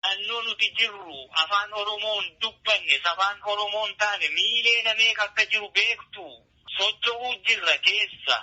Naannoo nuti jirru afaan Oromoon dubbanne, sabaan Oromoon taane miileena meeqa akka jiru beektuu? Socho'uu jirra keessa.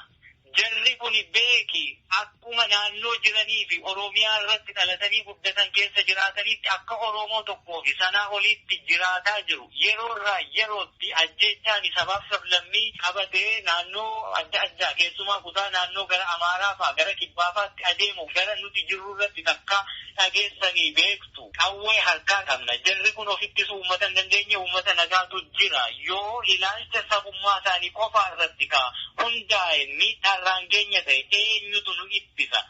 Jarri kuni beeki akkuma naannoo jiranii fi Oromiyaa irratti dhalatanii guddatan keessa jiraataniitti akka Oromoo tokkoo fi sanaa oliitti jiraataa jiru. Yeroo irraa yerootti ajjeechaani sabaaf sablammii qabatee naannoo adda addaa keessumaa kutaa naannoo gara Amaaraa faa, gara Kibbaa faatti adeemu gara nuti jirru irratti takkaa dhageessanii beektu? Qawwee harkaa qabna. Jarri kun of ittisuu uummata hin dandeenye, uummata nagaatu jira. Yoo ilaalcha sabummaa isaanii qofaa irratti ka hundaa'e miidhaa irraan geenya ta'e eenyutu nu ittisa?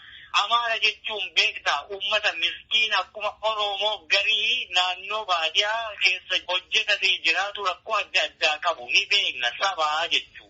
Amaara jechuun beektaa? Uummata miskiina akkuma Oroomoo garii naannoo baadiyaa keessa hojjetatee jiraatu rakkoo adda addaa qabu ni beekna. Saba jechuun.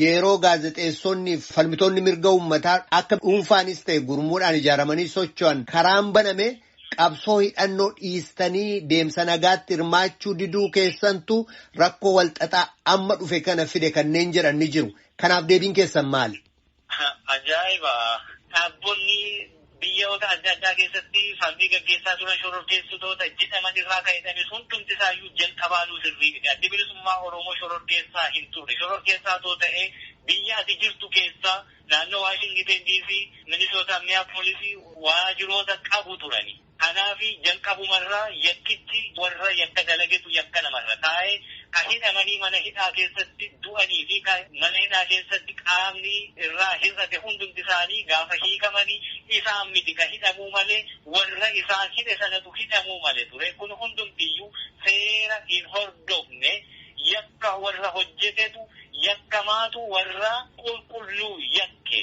Yeroo gaazexeessonni fi falmitoonni mirga uummataa akka dhuunfaanis ta'e gurmuudhaan ijaaramanii socho'an karaan baname qabsoo hidhannoo dhiistanii deemsa nagaatti hirmaachuu diduu keessantu rakkoo walxaxaa amma dhufe kana fide kanneen jedhan ni jiru. Kanaaf deebiin keessan maali? Ajaa'iba! Dhaabbonni Biyyaoota adda addaa keessatti falmii gaggeessaa turan shororkeessitoota jedhaman irraa kan hidhanis hundumti isaayyuu jalqabaanuu sirrii miti. Addi Bilisummaa Oromoo shororkeessaa hin turre. Shororkeessaa otoo ta'ee biyya ati jirtu keessa naannoo Waashingiteen DC, Minisootaa, Minneapolis waajiroota qabu turani. Kanaafi jalqabumarraa yakkichi warra yakka dalagetu yakka namarra kaa'e. Ka hidhamanii mana hidhaa keessatti du'anii fi ka mana hidhaa keessatti qaamni irraa hir'ate hundumti isaanii gaafa hiikamani isaan miti ka hidhamuu male warra isaan hidhe sanatu hidhamuu male ture kun hundumti iyyuu seera hin hordofne yakka warra hojjetetu yakkamaatu warra qulqulluu yakke.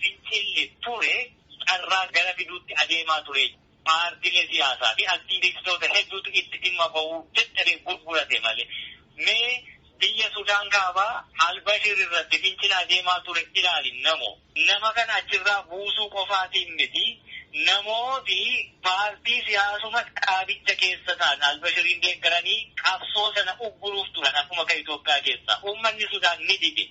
Fincilli ture carraa gara fiduutti adeemaa ture. Paartilee siyaasaa fi aktiivistoota hedduutu itti dhimma bahuu dadhabee gurgurate malee. Mee biyya Sudaan Kaabaa Al-Bashir irratti fincila adeemaa ture ilaali namo. Nama kana achirraa buusuu qofaatiin miti, namooti paartii siyaasuma dhaabicha keessa ta'an Al-Bashiriin deeggaranii qabsoo sana ugguruuf turan akkuma kan Itoophiyaa keessaa. Uummanni Sudaan ni dide.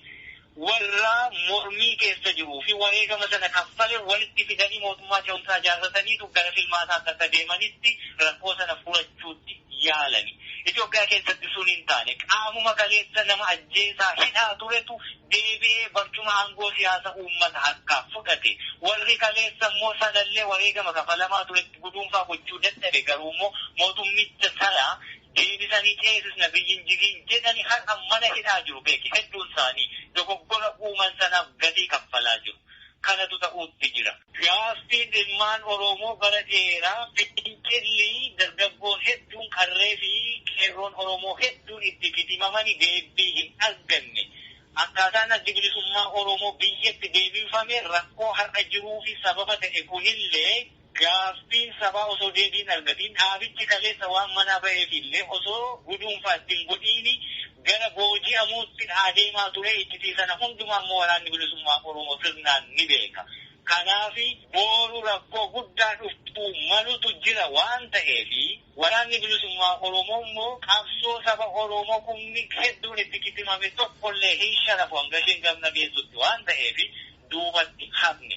warra mormii keessa jiruu fi wareegama sana kaffale walitti fidanii mootummaa ce'umsaa ijaarrataniitu gara filmaataatti akka deemanitti rakkoo sana furachuutti yaalani. Itoophiyaa keessatti sun hin taane. Qaamuma kaleessa nama ajjeesaa, hidhaa turetu deebi'ee barcuma aangoo siyaasa uummata harkaa fudhate. Warri kaleessa immoo sanallee wareegama kafalamaa turetti guduunfaa gochuu dadhabe. Garuummoo mootummicha sana deebisanii ceesisna biyyi hin jigiin jedhani har'a mana hidhaa jiru beeki hedduun isaanii dogoggora uuman sanaaf gatii kaffalaa jiru kanatu ta'uutti jira. Gaaffiin ilmaan Oroomoo bara dheeraa fincilli dargaggoon hedduun qarree fi qeerroon Oromoo hedduun itti kitimamani deebbii hin arganne akkaataan addi bilisummaa Oromoo biyyatti deebinfame rakkoo har'a jiruufi sababa ta'e kunillee Gaaffiin sabaa osoo deebii hin argatiin dhaabichi kaleessa waan manaa baheef illee osoo guduunfaa itti hin godhiin gara booji'amuutti adeemaa ture. Iccitii sana hundumaa immoo Waraanni Bilisummaa Oromoo sirnaan ni beeka. Kanaaf booru rakkoo guddaa dhufuu malutu jira waan ta'eef Waraanni Bilisummaa Oromoo immoo qabsoo saba Oromoo kumni hedduun itti kitimame tokko illee hin sharafu hanga isheen gamna geessutti waan ta'eef duubatti hafne.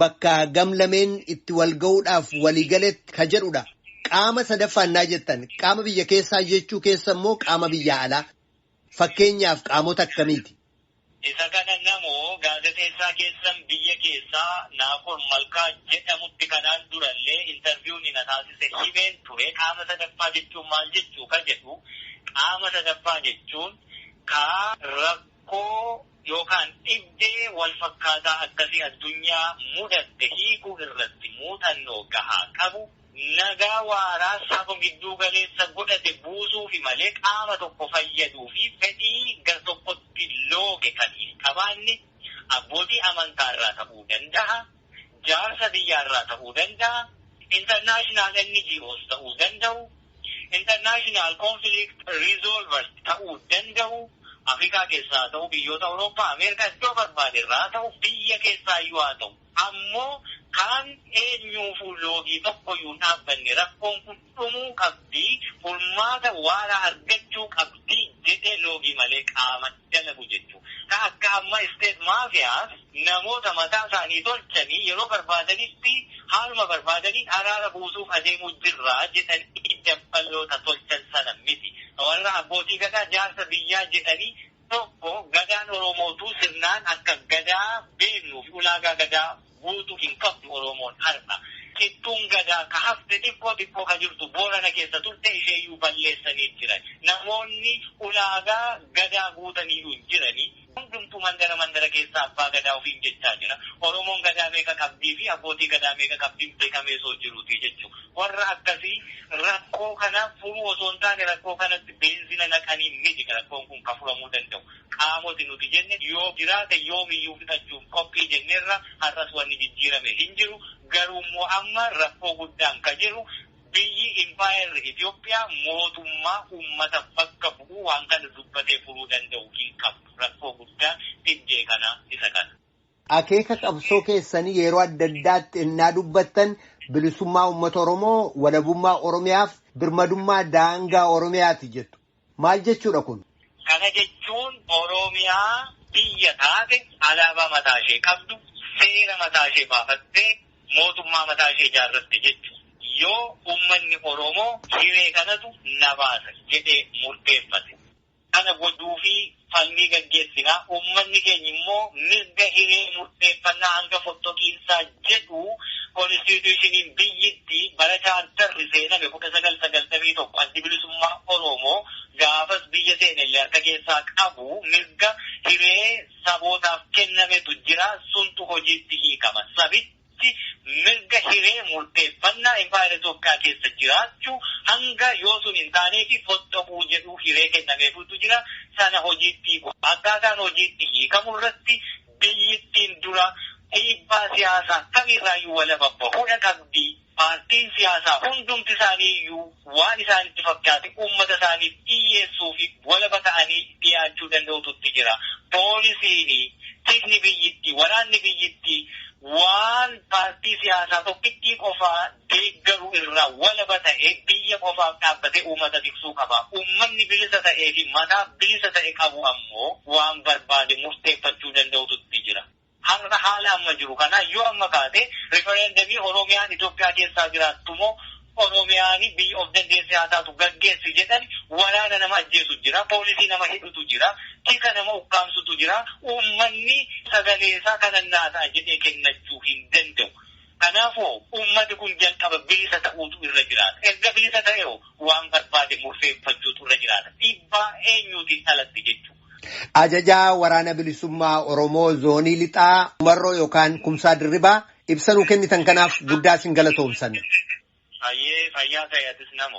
bakka gam lameen itti wal ga'uudhaaf walii galetti ka jedhudha. Qaama sadaffaa innaa jettan qaama biyya keessaa jechuu keessa immoo qaama biyyaa alaa fakkeenyaaf qaamota akkamiiti? Isa kana namoo gaazexeessaa keessan biyya keessaa Naakoor Malkaa jedhamutti kanaan durallee interviewni na taasise himeen ture. Qaama sadaffaa jechuun maal jechuu ka jedhu qaama sadaffaa jechuun ka rakkoo. yookaan dhibdee walfakkaataa akkasii addunyaa mudatte hiikuu irratti muuxannoo gahaa qabu, nagaa waaraa saba gidduu galeessa godhate buusuufi malee qaama tokko fayyaduufi fedhii gartokkotti looge kan hin qabaanne abbootii amantaarraa ta'uu danda'a. jaarsa biyyaa irraa ta'uu danda'a, international NGOs ta'uu danda'u, international conflict resolvers ta'uu danda'u, Afrikaa keessaa haa ta'u, biyyoota Awurooppaa, Ameerikaa iddoo barbaade irraa haa ta'u, biyya keessaa iyyuu haa ta'u ammoo kaan eenyuufuu loogii tokko iyyuu hin dhaabbanne rakkoon kun dhumuu qabdi, furmaata waaraa argachuu qabdi jedhee loogii malee qaama dalagu jechu. Ka akka amma state mafias namoota mataa isaanii tolchanii yeroo barbaadanitti haaluma barbaadaniin araara buusuuf adeemuu jirra jedhanii dabballoota tolchan sana miti. Ka warra abbootii gadaa jaarsa biyyaa jedhanii Tokko Gadaan Oromootuu sirnaan akka Gadaa beeknuuf ulaagaa Gadaa guutu hin qabdu Oromoon har'a. Cittuun Gadaa ka hafte xiqqoo xiqqoo ka jirtu Boorana keessa turte isheeyyuu balleessanii jiran. Namoonni ulaagaa Gadaa guutaniyyuu hin jirani. Hundumtuu mandara mandara keessa Abbaa Gadaa ofiin jechaa jira. Oromoon Gadaa meeqa qabdii fi Abbootii Gadaa meeqa qabdiin beekamee soo jiruutii jechuudha. Warra akkasii rakkoo kana furuu osoo hin taane rakkoo kanatti beenzina naqanii miti rakkoon kun kan furamuu danda'u. Qaamoti nuti jenne yoo jiraate yoomiyyuu fixachuuf qophii jenneerra har'as wanni jijjiirame hin jiru. Garuummoo amma rakkoo guddaan ka jiru biyyi impaayerri Itoophiyaa mootummaa ummata bakka bu'u waan kana dubbatee furuu danda'u hin qabdu. Rakkoo guddaan dhibdee kanaa isa kana. Akeeka qabsoo keessanii yeroo adda addaatti ennaa dubbattan bilisummaa uummata Oromoo, walabummaa Oromiyaaf birmadummaa daangaa Oromiyaati jettu. Maal jechuudha kun? Kana jechuun Oromiyaa biyya taate, alaabaa mataa ishee qabdu, seera mataa ishee baafattee, mootummaa mataa ishee ijaarratte jechuudha. Yoo uummanni Oromoo hiree kanatu na baasa jedhee murteeffate. Kana gochuufii falmii gaggeessina. Uummanni keenya immoo mirga hiree murteeffannaa hanga fottoqiinsaa jedhu Konistiitiyuushiniin biyyitti bara chaartarri seename 1991 Addi Bilisummaa Oroomoo gaafas biyya seenellee harka keessaa qabu mirga hiree sabootaaf kennametu jira. Suntu hojiitti hiikama. Sabichi. Itoophiyaatti mirga hiree murteeffannaa Impaayera Itoophiyaa keessa jiraachuu hanga yoo sun hin taaneefi foxxoquu jedhu hiree kennameefuutu jira. Sana hojiitti hiiku. Akkaataan hojiitti hiikamu irratti biyyittiin dura dhiibbaa siyaasaa kamiirraayyuu walaba bahuudha qabdi. Paartiin siyaasaa hundumti isaaniiyyuu. waan isaanitti fakkaate uummata isaaniif dhiyyeessuu fi walaba ta'anii dhiyaachuu danda'utu itti jira. Poolisiin, tikni biyyittii, waraanni biyyittii waan paartii siyaasaa tokkittii qofaa deeggaru irraa walaba ta'ee biyya qofaaf dhaabbatee uummata tiksuu qaba. Uummanni bilisa ta'ee fi mataa bilisa ta'e qabu ammoo waan barbaade murteeffachuu danda'utu itti jira. Har'a haala amma jiru kanaa yoo amma kaate referendemii Oromiyaan Itoophiyaa keessaa jiraattu moo Oromiyaan biyya of dandeesse haa taatu gaggeessi jedhani waraana nama ajjeesu jira, poolisii nama hidhutu jira, tika nama ukkaamsutu jira, uummanni sagalee isaa kanan naa ta'a jedhee kennachuu hin danda'u. Kanaafoo uummati kun jalqaba bilisa ta'uutu irra jiraata. Erga bilisa ta'eho waan barbaade murteeffachuutu irra jiraata. Dhiibbaa eenyuutiin alatti jechuudha. Ajajaa Waraana Bilisummaa Oromoo Zoonii Lixaa Marroo yookaan Kumsaa Dirribaa ibsa nuu kennitan kanaaf guddaa isin galatoomsanna. Hayyee fayyaa ta'e atis namo.